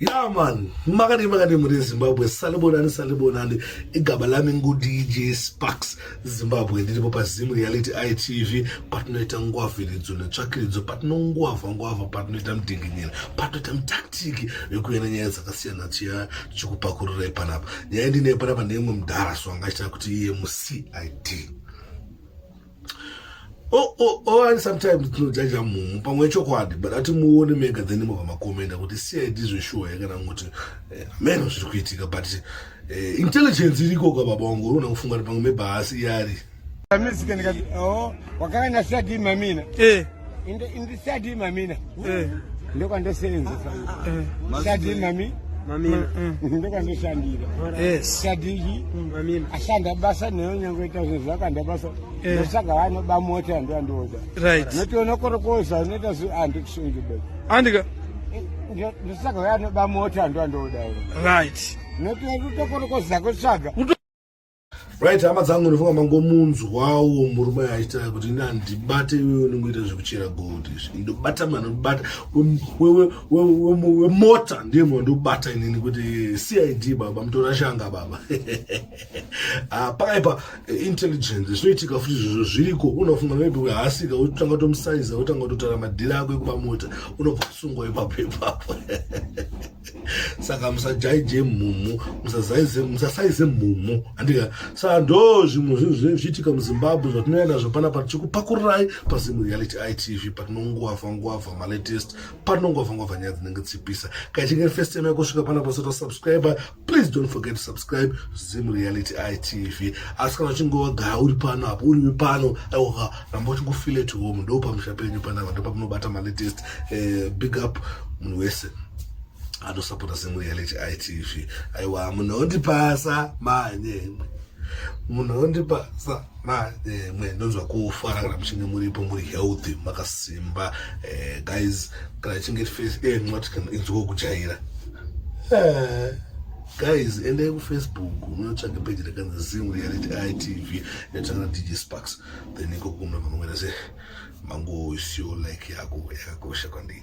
ya man makadii makadii muri zimbabwe salibonani salibonani igaba lami ngudj sparks zimbabwe ndiripo pazimu reality itv patinoita ngwavhiridzo netsvakiridzo patinongwavha ngwavha patinoita mudinginyira patinoita mitaktiki yekuenda nyaya dzakasiyana tiya tichikupakururai panapa nyaya ndine panapa neimwe mudhara so angachita kuti iye mucid Oh, oh, oh, and sometimes tinojaja munhu pamwe chokwadi but ati muone mega then mobva makomenda kuti cid zveshuwa here kana kuti eh, ameno zviri kuitika but eh, intelligence iriko ka baba wangu unoona kufunga kuti pamwe mebhaasi iyari oh, wakanga nasadii mamina eh. in the, in the study mamina eh. ndokwandoseenzesa eh. study mami mamina eh. ndokwandoshandira yes. study iyi mm, mamina ashanda basa neyo nyange ita zvinhu zvakanda basa eh. ndosaka vanoba mota yando yandioda right. notiona korokoza unoita zi andi kusungida andika ndosaka vanoba mota yando yandioda right notiona kutokorokoza kutsvaga right hama dzangu ndinofunga mangomunzwawo murume aita kuti ini handibate iwewe unongoita zvekuchera gold izvi ndobata mwana ndobata wemota ndiye mwana ndobata inini kuti cid baba mutora shanga baba ah, pakaipa eh, intelligence zvinoitika futi zvizvo zviriko unofunga maybe wehaasika wotanga tomusaiza wotanga kutotara madhiri ako ekuba mota unobva kusungwa ipapo ipapo saka musajaije mhumhu musasaize mhumhu andika saka ndo zvimwe zvinhu zvinenge zvichiitika muzimbabwe zvatinouya nazvo pana pa tichikupakururai pazimu reality itv patinonguava nguava malatest patinonguava nguava nyaya dzinenge tsipisa kaichinge first time yakusvika pana pasota subscriber please don't forget to subscribe zimu reality itv asi kana uchinge wagaya uri pano apo uriwe pano aiwaka ramba uchingofeel at home ndo pamusha penyu panapa ndo pamunobata malatest eh, big up munhu wese anosapota semureality itv aiwa munhu ondipasa manyemwe munhu ondipasa manyemwe ndonzwa kufara kana muchinge muripo muri healthy makasimba eh, guys kana chinge face eh, mwati kana inzwa kujaira eh, guys endai kufacebook munotsvage peji rekanzi zim reality itv yatanga dj sparks then ikoko kumwe kunoenda se mango isiyo like yako yakakosha kwandii